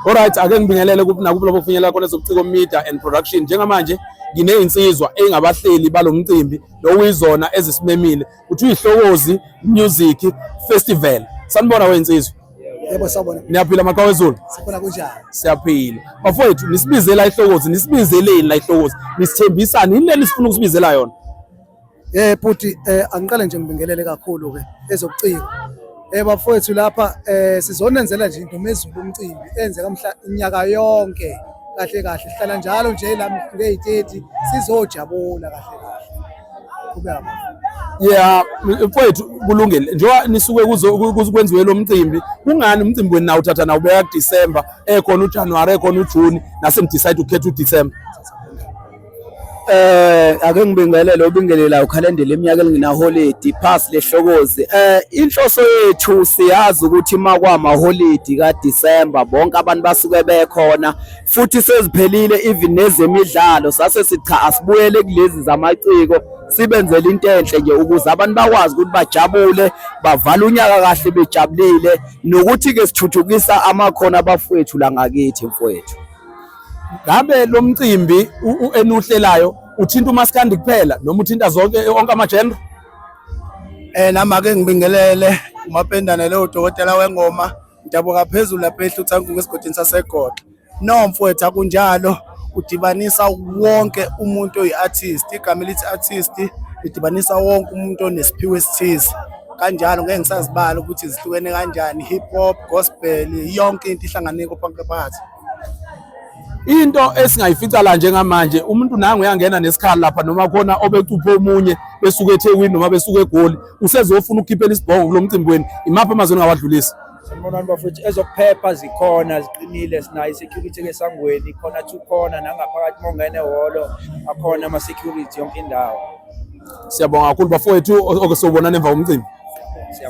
Alright ake ngibingelele kuphi nakuphi lapho kufinyelela khona sobuciko media and production njengamanje nginezinsizwa engabahleli balomcimbi lokuyizona ezisimemile kuthi ihlokozi music festival sanibona wezinsizwa yebo sawubona niyaphila maqhawe ezulu sikhona kunjani siyaphila bafowethu nisibizela ihlokozi nisibizeleni la ihlokozi nisithembisani yini leni sifuna ukusibizela yona Eh bhuti eh angiqale nje ngibingelele kakhulu ke ezokuciko. Eh bafowethu lapha eh sizonenzela nje into mezulu umcimbi enzeka mhla inyaka yonke kahle kahle sihlala njalo nje la ngeyiteti sizojabula kahle kahle. Qhubeka. Yeah mfowethu kulungile njengoba nisuke kuzokwenziwe lo mcimbi kungani umcimbi wenu nawo uthatha nawo beya December ekhona uJanuary ekhona uJune nase ni decide ukukhetha uDecember Eh ake ngibingelele obingelela ukhalendela iminyaka elinginaholidi pass lehlokozi eh inhloso yethu siyazi ukuthi makwama holidi ka December bonke abantu basuke bekhona futhi seziphelile even nezemidlalo sase sicha asibuyele kulezi zamaciko sibenzele into enhle nje ukuze abantu bakwazi ukuthi bajabule bavale unyaka kahle bejabulile nokuthi ke sithuthukisa amakhono abafowethu la ngakithi mfowethu ngabe lo mcimbi enuhlelayo uthinta umaskandi kuphela noma uthinta zonke onke amajendra eh nami ake ngibingelele umapendane lo dokotela wengoma ngidabuka phezulu lapha ehluthankungu esigodini sasegoda no mfowethu akunjalo udibanisa wonke umuntu oyi-artist igama elithi artist lidibanisa wonke umuntu onesiphiwo esithize kanjalo ngeke ngisazibala ukuthi zihlukene kanjani hip hop gospel yonke into ihlanganeko phakathi into esingayifica la njengamanje umuntu nangu uyangena nesikhali lapha noma khona obecuphe omunye besuke eThekwini noma besuke eGoli usezofuna ukukhiphela isibhongo kulo mcimbi wenu imaphi amazwi engawadlulisa Sanibonani bafethu ezokuphepha zikhona ziqinile sinayo security ke sangweni khona two khona nangaphakathi mongene holo akhona ama security yonke indawo Siyabonga kakhulu bafowethu oke sobonana emva komcimbi